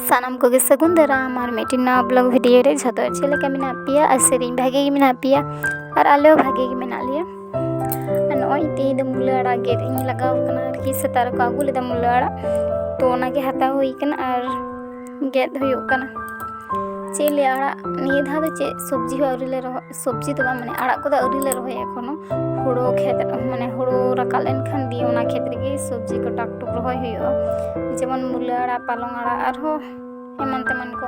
ᱥᱟᱱᱟᱢ ᱠᱚᱜᱮ ᱥᱟᱹᱜᱩᱱ ᱫᱟᱨᱟᱢ ᱟᱨ ᱢᱤᱫᱴᱤᱱ ᱱᱟᱣᱟ ᱵᱞᱚᱜ ᱵᱷᱤᱰᱤᱭᱳ ᱨᱮ ᱡᱷᱚᱛᱚ ᱪᱮᱫ ᱞᱮᱠᱟ ᱢᱮᱱᱟᱜ ᱯᱮᱭᱟ ᱟᱨ ᱥᱮᱨᱮᱧ ᱵᱷᱟᱜᱮ ᱜᱮ ᱢᱮᱱᱟᱜ ᱯᱮᱭᱟ ᱟᱨ ᱟᱞᱮ ᱦᱚᱸ ᱵᱷᱟᱜᱮ ᱜᱮ ᱢᱮᱱᱟᱜ ᱞᱮᱭᱟ ᱟᱨ ᱱᱚᱜᱼᱚᱭ ᱛᱮᱦᱮᱧ ᱫᱚ ᱢᱩᱞᱟᱹ ᱟᱲᱟᱜ ᱜᱮᱫ ᱤᱧ ᱞᱟᱜᱟᱣ ᱠᱟᱱᱟ ᱟᱨᱠᱤ ᱥᱮᱛᱟᱜ ᱨᱮᱠᱚ ᱟᱹᱜᱩ ᱞᱮᱫᱟ ᱢᱩᱞᱟᱹ ᱟᱲᱟᱜ ᱛᱚ ᱚᱱᱟᱜᱮ ᱦᱟᱛᱟᱣ ᱦᱩᱭ ᱠᱟᱱᱟ ᱟᱨ ᱜᱮᱫ ᱦᱩᱭᱩᱜ ᱠᱟᱱᱟ ᱪᱮᱫ ᱞᱮ ᱟᱲᱟᱜ ᱱᱤᱭᱟᱹ ᱫᱷᱟᱣ ᱫᱚ ᱪᱮᱫ ᱥᱚᱵᱽᱡᱤ ᱦᱚᱸ ᱟᱹᱣᱨᱤ ᱞᱮ ᱨᱚᱦᱚᱭ ᱥᱚᱵᱽᱡᱤ ᱫᱚ ᱵᱟᱝ ᱢᱟᱱᱮ ᱟᱲᱟᱜ ᱠᱚᱫᱚ ᱟᱹᱣᱨᱤ ᱞᱮ ᱨᱚᱦᱚᱭᱟ ᱮᱠᱷᱚᱱᱳ ᱦᱳᱲᱳ ᱠᱷᱮᱛ ᱢᱟᱱᱮ ᱦᱳᱲᱳ ᱨᱟᱠᱟᱵ ᱞᱮᱱᱠᱷᱟᱱ ᱫᱤᱭᱮ ᱚᱱᱟ ᱠᱷᱮᱛ ᱨᱮᱜᱮ ᱥᱚᱵᱽᱡᱤ ᱠᱚ ᱴᱟᱠ ᱴᱩᱠ ᱨᱚᱦᱚᱭ ᱦᱩᱭᱩᱜᱼᱟ ᱡᱮᱢᱚᱱ ᱢᱩᱞᱟᱹ ᱟᱲᱟᱜ ᱯᱟᱞᱚᱝ ᱟᱲᱟᱜ ᱟᱨᱦᱚᱸ ᱮᱢᱟᱱ ᱛᱮᱢᱟᱱ ᱠᱚ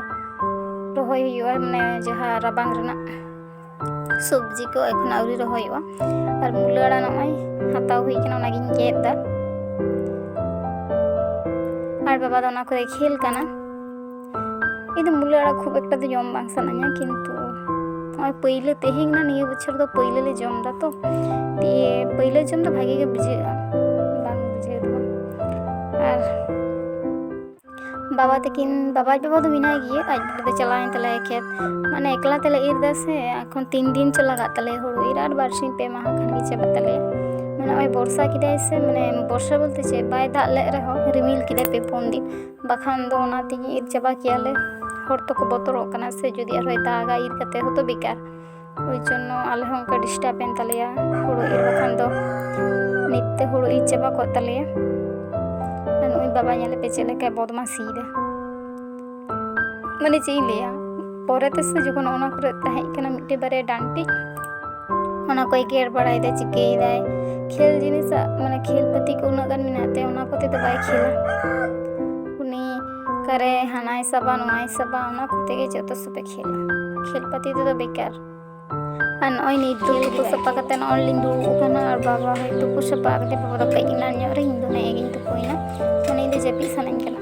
ᱨᱚᱦᱚᱭ ᱦᱩᱭᱩᱜᱼᱟ ᱢᱟᱱᱮ ᱡᱟᱦᱟᱸ ᱨᱟᱵᱟᱝ ᱨᱮᱱᱟᱜ ᱥᱚᱵᱽᱡᱤ ᱠᱚ ᱮᱠᱷᱚᱱ ᱟᱹᱣᱨᱤ ᱨᱚᱦᱚᱭᱚᱜᱼᱟ ᱟᱨ ᱢᱩᱞᱟᱹ ᱟᱲᱟᱜ ᱱᱚᱜᱼᱚᱭ ᱦᱟᱛᱟᱣ ᱦᱩᱭ ᱠᱟᱱᱟ ᱚᱱᱟᱜᱤᱧ ᱜᱮᱫ ᱮᱫᱟ ᱟᱨ ᱵᱟᱵᱟ ᱫᱚ ᱚᱱᱟ ᱠᱚᱨᱮ ᱠᱷᱮᱞ ᱠᱟᱱᱟ ᱤᱧ ᱫᱚ ᱢᱩᱞᱟᱹ ᱟᱲᱟᱜ ᱠᱷᱩᱵ ᱮᱠᱴᱟ ᱫᱚ ᱡᱚᱢ ᱵᱟᱝ ᱥᱟᱱᱟᱧᱟ ᱠᱤᱱᱛᱩ ᱱᱚᱜᱼᱚᱭ ᱯᱟᱹᱭᱞᱟᱹ ᱛᱮᱦᱮᱧ ᱱᱟ ᱱᱤᱭᱟᱹ ᱵᱚᱪᱷᱚᱨ ᱫᱚ ᱯᱟᱹᱭᱞᱟᱹ ᱞᱮ ᱡᱚᱢ ᱫᱟ ᱛᱚ ᱫᱤᱭᱮ ᱯᱟᱹᱭᱞᱟᱹ ᱡᱚᱢ ᱫᱚ ᱵᱷᱟᱜᱮ ᱜᱮ ᱵᱩᱡᱷᱟᱹᱜᱼᱟ ᱵᱟᱝ ᱵᱩᱡᱷᱟᱹᱣ ᱫᱚ ᱟᱨ ᱵᱟᱵᱟ ᱛᱟᱹᱠᱤᱱ ᱵᱟᱵᱟ ᱟᱡ ᱵᱟᱵᱟ ᱫᱚ ᱢᱮᱱᱟᱭ ᱜᱮᱭᱟ ᱟᱡ ᱵᱟᱵᱟ ᱫᱚ ᱪᱟᱞᱟᱣᱮᱱ ᱛᱟᱞᱮᱭᱟ ᱠᱷᱮᱛ ᱢᱟᱱᱮ ᱮᱠᱞᱟ ᱛᱮᱞᱮ ᱤᱨ ᱫᱟ ᱥᱮ ᱮᱠᱷᱚᱱ ᱛᱤᱱ ᱫᱤᱱ ᱪᱚ ᱞᱟᱜᱟᱜ ᱛᱟᱞᱮᱭᱟ ᱦᱩᱲᱩ ᱤᱨ ᱟᱨ ᱵᱟᱨᱥᱤᱧ ᱯᱮ ᱢᱟᱦᱟ ᱠᱷᱟᱱ ᱜᱮ ᱪᱟᱵᱟᱜ ᱛᱟᱞᱮᱭᱟ ᱢᱟᱱᱮ ᱱᱚᱜᱼᱚᱭ ᱵᱚᱨᱥᱟ ᱠᱮᱫᱟᱭ ᱥᱮ ᱢᱟᱱᱮ ᱵᱚᱨᱥᱟ ᱵᱚᱞᱛᱮ ᱪᱮᱫ ᱵᱟᱭ ᱫᱟᱜ ᱞᱮᱫ ᱨᱮᱦᱚᱸ ᱨᱤᱢᱤᱞ ᱠᱮᱫᱟᱭ ᱯᱮ ᱯᱩᱱ ᱫᱤᱱ ᱵᱟᱠᱷᱟᱱ ᱫᱚ ᱚᱱᱟ ᱛᱮᱜᱮ ᱤᱨ ᱪᱟᱵᱟ ᱠᱮᱭᱟᱞᱮ ᱦᱚᱲ ᱛᱚᱠᱚ ᱵᱚᱛᱚᱨᱚᱜ ᱠᱟᱱᱟ ᱥᱮ ᱡᱩᱫᱤ ᱟᱨᱦᱚᱸᱭ ᱫᱟᱜᱟ ᱤᱨ ᱠᱟᱛᱮ ᱦᱚᱸᱛᱚ ᱵᱮᱠᱟᱨ ᱳᱭ ᱡᱚᱱᱱᱚ ᱟᱞᱮ ᱦᱚᱸ ᱚᱱᱠᱟ ᱰᱤᱥᱴᱟᱵᱽ ᱮᱱ ᱛᱟᱞᱮᱭᱟ ᱦᱳᱲᱳ ᱤᱨ ᱵᱟᱠᱷᱟᱱ ᱫᱚ ᱱᱤᱛ ᱛᱮ ᱦᱳᱲᱳ ᱤᱨ ᱪᱟᱵᱟ ᱠᱚᱜ ᱛᱟᱞᱮᱭᱟ ᱟᱨ ᱱᱩᱭ ᱵᱟᱵᱟ ᱧᱮᱞᱮ ᱯᱮ ᱪᱮᱫ ᱞᱮᱠᱟᱭ ᱵᱚᱫᱢᱟᱥᱤᱭᱮᱫᱟ ᱢᱟᱱᱮ ᱪᱮᱫ ᱤᱧ ᱞᱟᱹᱭᱟ ᱯᱚᱨᱮ ᱛᱮᱥᱮ ᱡᱚᱠᱷᱚᱱ ᱚᱱᱟ ᱠᱚᱨᱮ ᱛᱟᱦᱮᱸ ᱠᱟᱱᱟ ᱢᱤᱫᱴᱮᱱ ᱵᱟᱨᱭᱟ ᱰᱟᱱᱴᱤᱡ ᱚᱱᱟ ᱠᱚᱭ ᱜᱮᱨ ᱵᱟᱲᱟᱭᱮᱫᱟ ᱪᱤᱠᱟᱹᱭᱮᱫᱟᱭ ᱠᱷᱮᱞ ᱡᱤᱱᱤᱥᱟᱜ ᱢᱟᱱᱮ ᱠᱷᱮᱞ ᱯᱟᱹᱛᱤ ᱠᱚ ᱩᱱᱟᱹᱜ ᱜᱟᱱ ᱢᱮᱱᱟᱜ ᱛᱮ ᱚᱱᱟ ᱠᱚᱛᱮ ᱫᱚ ᱵᱟᱭ ᱠᱷᱮᱞᱟ ᱩᱱᱤ ᱚᱠᱟᱨᱮ ᱦᱟᱱᱟᱭ ᱥᱟᱵᱟ ᱱᱚᱣᱟᱭ ᱥᱟᱵᱟ ᱚᱱᱟ ᱠᱚᱛᱮ ᱜᱮ ᱡᱚᱛᱚ ᱥᱚᱵᱮ ᱠᱷᱮᱞᱟ ᱠᱷᱮᱞ ᱯᱟᱹᱛᱤ ᱛᱮᱫᱚ ᱵᱮᱠᱟᱨ ᱟᱨ ᱱᱚᱜᱼᱚᱭ ᱱᱤᱛ ᱫᱚ ᱛᱩᱯᱩ ᱥᱟᱯᱷᱟ ᱠᱟᱛᱮ ᱱᱚᱜᱼᱚᱭ ᱞᱤᱧ ᱫᱩᱲᱩᱵ ᱟᱠᱟᱱᱟ ᱟᱨ ᱵᱟᱵᱟ ᱦᱚᱭ ᱛᱩᱯᱩ ᱥᱟᱯᱷᱟ ᱠᱟᱛᱮ ᱵᱟᱵᱟ ᱫᱚ ᱠᱟᱹᱡ ᱮᱱᱟᱱ ᱧᱚᱜ ᱨᱮ ᱤᱧ ᱫᱚ ᱱᱮᱜᱼᱮ ᱜᱤᱧ ᱛᱩᱯᱩᱭᱮᱱᱟ ᱢᱟᱱᱮ ᱤᱧ ᱫᱚ ᱡᱟᱹᱯᱤᱫ ᱥᱟᱱᱟᱧ ᱠᱟᱱᱟ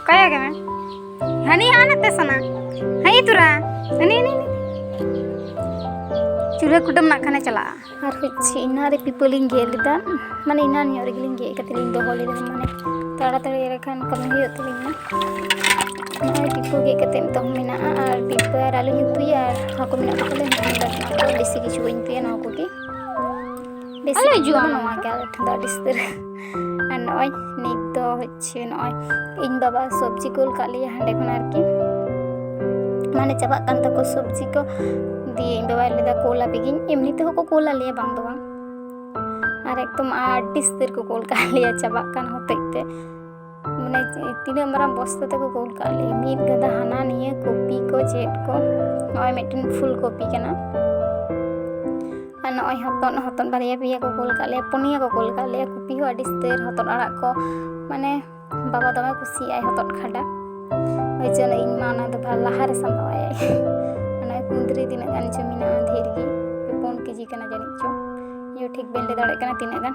ᱚᱠᱟᱭᱟ ᱜᱮ ᱢᱮ ᱦᱟᱹᱱᱤ ᱦᱟᱸ ᱱᱟᱛᱮ ᱥᱟᱱᱟ ᱦᱟᱹᱭ ᱛᱩᱨᱟ ᱦᱟᱹᱱᱤ ᱦᱟᱹᱱᱤ ᱪᱩᱞᱦᱟᱹ ᱠᱩᱴᱟᱹᱢ ᱱᱟᱜ ᱠᱷᱟᱱᱮ ᱪᱟᱞᱟᱜᱼᱟ ᱟᱨ ᱦᱚᱪᱪᱷᱮ ᱤᱱᱟ ᱨᱮ ᱯᱤᱯᱟᱹᱞᱤᱧ ᱜᱮᱫ ᱞᱮᱫᱟ ᱢᱟᱱᱮ ᱤᱱᱟ ᱧᱚᱜ ᱨᱮᱜᱮᱞᱤᱧ ᱜᱮᱫ ᱠᱟᱛᱮ ᱞᱤᱧ ᱫᱚᱦᱚ ᱞᱮᱫᱟ ᱢᱟᱱᱮ ᱛᱟᱲᱟᱛᱟᱲᱤ ᱨᱮᱠᱷᱟᱱ ᱠᱟᱹᱢᱤ ᱦᱩᱭᱩᱜ ᱛᱟᱹᱞᱤᱧᱟ ᱱᱚᱜᱼᱚᱭ ᱯᱤᱯᱟᱹ ᱜᱮᱫ ᱠᱟᱛᱮ ᱱᱤᱛᱚᱜ ᱢᱮᱱᱟᱜᱼᱟ ᱟᱨ ᱯᱤᱯᱟᱹ ᱟᱨ ᱟᱞᱩᱧ ᱩᱛᱩᱭᱟ ᱟᱨ ᱦᱟᱹᱠᱩ ᱢᱮᱱᱟᱜ ᱠᱚᱛᱟᱞᱮ ᱵᱮᱥᱤ ᱠᱤᱪᱷᱩ ᱵᱟᱹᱧ ᱩᱛᱩᱭᱟ ᱱᱚᱣᱟ ᱠᱚᱜᱮ ᱵᱮᱥ ᱦᱤᱡᱩᱜᱼᱟ ᱱᱚᱣᱟ ᱜᱮ ᱟᱞᱮ ᱴᱷᱮᱱ ᱫᱚ ᱟᱹᱰᱤ ᱥᱩᱫᱷᱟᱹᱨ ᱟᱨ ᱱᱚᱜᱼᱚᱭ ᱱᱤᱛ ᱫᱚ ᱦᱚᱪᱪᱷᱮ ᱱᱚᱜᱼᱚᱭ ᱤᱧ ᱵᱟᱵᱟ ᱥᱚᱵᱽᱡᱤ ᱠᱩᱞ ᱠᱟᱜ ᱞᱮᱭᱟ ᱦᱟᱸᱰᱮ ᱠᱷᱚᱱ ᱟᱨᱠᱤ ᱢᱟᱱᱮ ᱪᱟᱵᱟᱜ ᱠᱟᱱ ᱛᱟᱠᱚ ᱥᱚᱵᱽᱡᱤ ᱠᱚ ᱫᱤᱭᱮ ᱤᱧ ᱵᱟᱵᱟᱭ ᱞᱟᱹᱭᱫᱟ ᱠᱳᱞ ᱟᱯᱮ ᱜᱤᱧ ᱮᱢᱱᱤ ᱛᱮᱦᱚᱸ ᱠᱚ ᱠᱳᱞ ᱟᱞᱮᱭᱟ ᱵᱟᱝ ᱫᱚ ᱵᱟᱝ ᱟᱨ ᱮᱠᱫᱚᱢ ᱟᱹᱰᱤ ᱥᱩᱫᱷᱟᱹᱨ ᱠᱚ ᱠᱳᱞ ᱠᱟᱜ ᱞᱮᱭᱟ ᱪᱟᱵᱟᱜ ᱠᱟᱱ ᱦᱚᱛᱮᱡ ᱛᱮ ᱢᱟᱱᱮ ᱛᱤᱱᱟᱹᱜ ᱢᱟᱨᱟᱝ ᱵᱚᱥᱛᱟ ᱛᱮᱠᱚ ᱠᱩᱞ ᱠᱟᱜ ᱞᱮ ᱢᱤᱫ ᱜᱟᱫᱟ ᱦᱟᱱᱟ ᱱᱤᱭᱟᱹ ᱠᱚᱯᱤ ᱠᱚ ᱪᱮᱫ ᱠᱚ ᱱᱚᱜᱼᱚᱭ ᱢᱤᱫᱴᱮᱱ ᱯᱷᱩᱞ ᱠᱚᱯᱤ ᱠᱟᱱᱟ ᱟᱨ ᱱᱚᱜᱼᱚᱭ ᱦᱚᱛᱚᱫ ᱦᱚᱛᱚᱫ ᱵᱟᱨᱭᱟ ᱯᱮᱭᱟ ᱠᱚ ᱠᱩᱞ ᱠᱟᱜ ᱞᱮᱭᱟ ᱯᱩᱱᱭᱟ ᱠᱚ ᱠᱩᱞ ᱠᱟᱜ ᱞᱮᱭᱟ ᱠᱚᱯᱤ ᱦᱚᱸ ᱟᱹᱰᱤ ᱥᱛᱮᱨ ᱦᱚᱛᱚᱫ ᱟᱲᱟᱜ ᱠᱚ ᱢᱟᱱᱮ ᱵᱟᱵᱟ ᱫᱚᱢᱮ ᱠᱩᱥᱤᱭᱟᱜᱼᱟᱭ ᱦᱚᱛᱚᱫ ᱠᱷᱟᱰᱟ ᱳᱭ ᱡᱚᱱᱱᱚ ᱤᱧ ᱢᱟ ᱚᱱᱟ ᱫᱚ ᱞᱟᱦᱟᱨᱮ ᱥᱟᱢᱵᱟᱣᱟᱭ ᱚᱱᱟ ᱠᱩᱸᱫᱽᱨᱤ ᱛᱤᱱᱟᱹᱜ ᱜᱟᱱ ᱡᱚ ᱢᱮᱱᱟᱜᱼᱟ ᱰᱷᱮᱨ ᱜᱮ ᱯᱩᱱ ᱠᱮᱡᱤ ᱠᱟᱱᱟ ᱡᱟᱹᱱᱤᱡ ᱪᱚᱝ ᱤᱧ ᱴᱷᱤᱠ ᱵᱟᱹᱧ ᱞᱟᱹᱭ ᱫᱟᱲᱮᱭᱟᱜ ᱠᱟᱱᱟ ᱛᱤᱱᱟᱹᱜ ᱜᱟᱱ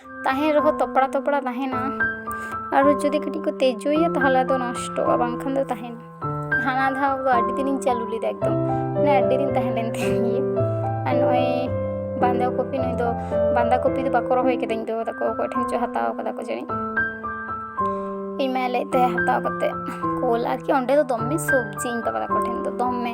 ᱛᱟᱦᱮᱱ ᱨᱮᱦᱚᱸ ᱛᱚᱯᱲᱟ ᱛᱚᱯᱲᱟ ᱛᱟᱦᱮᱱᱟ ᱟᱨ ᱡᱩᱫᱤ ᱠᱟᱹᱴᱤᱡ ᱠᱚ ᱛᱮᱡᱳᱭᱟ ᱛᱟᱦᱚᱞᱮ ᱟᱫᱚ ᱱᱚᱥᱴᱚᱜᱼᱟ ᱵᱟᱝᱠᱷᱟᱱ ᱫᱚ ᱛᱟᱦᱮᱱᱟ ᱦᱟᱱᱟ ᱫᱷᱟᱣ ᱫᱚ ᱟᱹᱰᱤ ᱫᱤᱱᱤᱧ ᱪᱟᱹᱞᱩ ᱞᱮᱫᱟ ᱮᱠᱫᱚᱢ ᱢᱟᱱᱮ ᱟᱹᱰᱤ ᱫᱤᱱ ᱛᱟᱦᱮᱸ ᱞᱮᱱ ᱛᱤᱧ ᱜᱮᱭᱟ ᱟᱨ ᱱᱚᱜᱼᱚᱭ ᱵᱟᱸᱫᱟ ᱠᱚᱯᱤ ᱱᱩᱭ ᱫᱚ ᱵᱟᱸᱫᱟ ᱠᱚᱯᱤ ᱫᱚ ᱵᱟᱠᱚ ᱨᱚᱦᱚᱭ ᱠᱟᱫᱟ ᱤᱧ ᱫᱚ ᱛᱟᱠᱚ ᱚᱠᱚᱭ ᱴᱷᱮᱱ ᱪᱚ ᱦᱟᱛᱟᱣ ᱠᱟᱫᱟ ᱠᱚ ᱡᱟᱹᱱᱤᱡ ᱤᱧ ᱢᱟᱭ ᱞᱟᱹᱭᱮᱫ ᱛᱟᱦᱮᱸ ᱦᱟᱛᱟᱣ ᱠᱟᱛᱮ ᱠᱳᱞ ᱟᱨᱠᱤ ᱚᱸᱰᱮ ᱫᱚ ᱫᱚᱢᱮ ᱥᱚᱵᱽᱡᱤ ᱤᱧ ᱵᱟᱵᱟ ᱛᱟᱠᱚ ᱴᱷᱮᱱ ᱫᱚ ᱫᱚᱢᱮ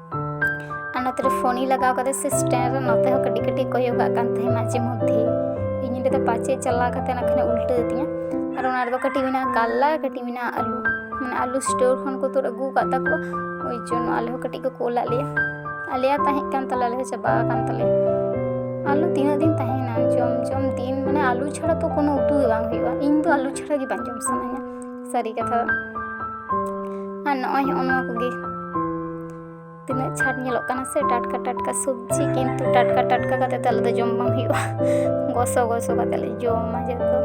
ᱟᱨ ᱱᱚᱛᱮ ᱨᱮ ᱯᱷᱳᱱᱤ ᱞᱟᱜᱟᱣ ᱠᱟᱛᱮ ᱥᱮ ᱥᱴᱮᱱᱰ ᱨᱮ ᱱᱚᱛᱮ ᱦᱚᱸ ᱠᱟᱹᱴᱤᱡ ᱠᱟᱹᱴᱤᱡ ᱠᱚᱭᱚᱜ ᱠᱟᱜ ᱠᱟᱱ ᱛᱟᱦᱮᱸ ᱢᱟᱡᱷᱮ ᱢᱚᱫᱽᱫᱷᱮ ᱤᱧ ᱞᱟᱹᱭᱫᱟ ᱯᱟᱪᱮ ᱪᱟᱞᱟᱣ ᱠᱟᱛᱮ ᱱᱟᱜ ᱠᱷᱟᱱ ᱩᱞᱴᱟᱹ ᱛᱤᱧᱟ ᱟᱨ ᱚᱱᱟ ᱨᱮᱫᱚ ᱠᱟᱹᱴᱤᱡ ᱢᱮᱱᱟᱜᱼᱟ ᱠᱟᱞᱞᱟ ᱠᱟᱹᱴᱤᱡ ᱢᱮᱱᱟᱜᱼᱟ ᱟᱹᱞᱩ ᱢᱟᱱᱮ ᱟᱹᱞᱩ ᱥᱴᱳᱨ ᱠᱷᱚᱱ ᱠᱚ ᱛᱩᱫ ᱟᱹᱜᱩ ᱟᱠᱟᱫ ᱛᱟᱠᱚ ᱳᱭ ᱡᱚᱱᱱᱚ ᱟᱞᱮ ᱦᱚᱸ ᱠᱟᱹᱴᱤᱡ ᱠᱚ ᱠᱳᱞᱟᱜ ᱞᱮᱭᱟ ᱟᱞᱮᱭᱟᱜ ᱛᱟᱦᱮᱸ ᱠᱟᱱ ᱛᱟᱞᱮ ᱟᱞᱮ ᱦᱚᱸ ᱪᱟᱵᱟ ᱟᱠᱟᱱ ᱛᱟᱞᱮᱭᱟ ᱟᱹᱞᱩ ᱛᱤᱱᱟᱹᱜ ᱫᱤᱱ ᱛᱟᱦᱮᱱᱟ ᱡᱚᱢ ᱡᱚᱢ ᱫᱤᱱ ᱢᱟᱱᱮ ᱟᱹᱞᱩ ᱪᱷᱟᱲᱟ ᱛᱚ ᱠᱳᱱᱳ ᱩᱛᱩ ᱜᱮ ᱵᱟᱝ ᱦᱩᱭᱩᱜᱼᱟ ᱤᱧ ᱫᱚ ᱟᱹᱞᱩ ᱪᱷᱟᱲᱟ ᱜᱮ ᱵᱟᱝ ᱡᱚᱢ ᱥᱟᱱᱟᱧᱟ ᱥᱟᱹᱨᱤ ᱠᱟᱛᱷᱟ ᱟᱨ ᱱᱚᱜᱼᱚᱭ ᱦᱚᱸᱜᱼᱚ ᱱᱚᱣᱟ ᱠᱚᱜᱮ ᱛᱤᱱᱟᱹᱜ ᱪᱷᱟᱴ ᱧᱮᱞᱚᱜ ᱠᱟᱱᱟ ᱥᱮ ᱴᱟᱴᱠᱟ ᱴᱟᱴᱠᱟ ᱥᱚᱵᱽᱡᱤ ᱠᱤᱱᱛᱩ ᱴᱟᱴᱠᱟ ᱴᱟᱴᱠᱟ ᱠᱟᱛᱮ ᱫᱚ ᱟᱞᱮ ᱫᱚ ᱡᱚᱢ ᱵᱟᱝ ᱦᱩᱭᱩᱜᱼᱟ ᱜᱚᱥᱚ ᱜᱚᱥᱚ ᱠᱟᱛᱮ ᱞᱮ ᱡᱚᱢᱟ ᱡᱚᱛᱚ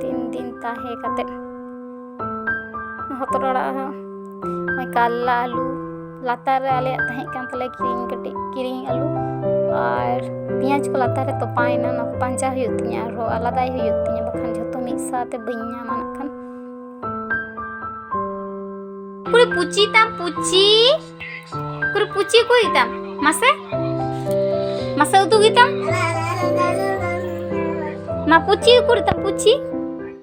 ᱫᱤᱱ ᱫᱤᱱ ᱛᱟᱦᱮᱸ ᱠᱟᱛᱮ ᱦᱚᱛᱚᱫ ᱟᱲᱟᱜ ᱦᱚᱸ ᱱᱚᱜᱼᱚᱭ ᱠᱟᱨᱞᱟ ᱟᱹᱞᱩ ᱞᱟᱛᱟᱨ ᱨᱮ ᱟᱞᱮᱭᱟᱜ ᱛᱟᱦᱮᱸ ᱠᱟᱱ ᱛᱟᱞᱮ ᱠᱤᱨᱤᱧ ᱠᱟᱹᱴᱤᱡ ᱠᱤᱨᱤᱧ ᱟᱹᱞᱩ ᱟᱨ ᱯᱮᱸᱭᱟᱡᱽ ᱠᱚ ᱞᱟᱛᱟᱨ ᱨᱮ ᱛᱚᱯᱟᱭᱮᱱᱟ ᱚᱱᱟ ᱠᱚ ᱯᱟᱸᱡᱟ ᱦᱩᱭᱩᱜ ᱛᱤᱧᱟ ᱟᱨᱦᱚᱸ ᱟᱞᱟᱫᱟᱭ ᱦᱩᱭᱩᱜ ᱛᱤᱧᱟ ᱵᱟᱠᱷᱟᱱ ᱡᱷᱚᱛᱚ ᱢᱤᱫ ᱥᱟᱶᱛᱮ ᱵᱟᱹᱧ ᱧᱟᱢᱟ ᱱᱟᱜ ᱠᱷᱟᱱ ᱠᱩᱨᱩ ᱯᱩᱪᱤ ᱛᱟᱢ ᱯᱩᱪᱤ ᱠᱩᱨᱩ ᱯᱩᱪᱤ ᱠᱚ ᱤᱛᱟᱢ ᱢᱟᱥᱮ ᱢᱟᱥᱮ ᱩᱫᱩᱜ ᱤᱛᱟᱢ ᱢᱟ ᱯᱩᱪᱤ ᱠᱩᱨᱩ ᱛᱟᱢ ᱯᱩᱪᱤ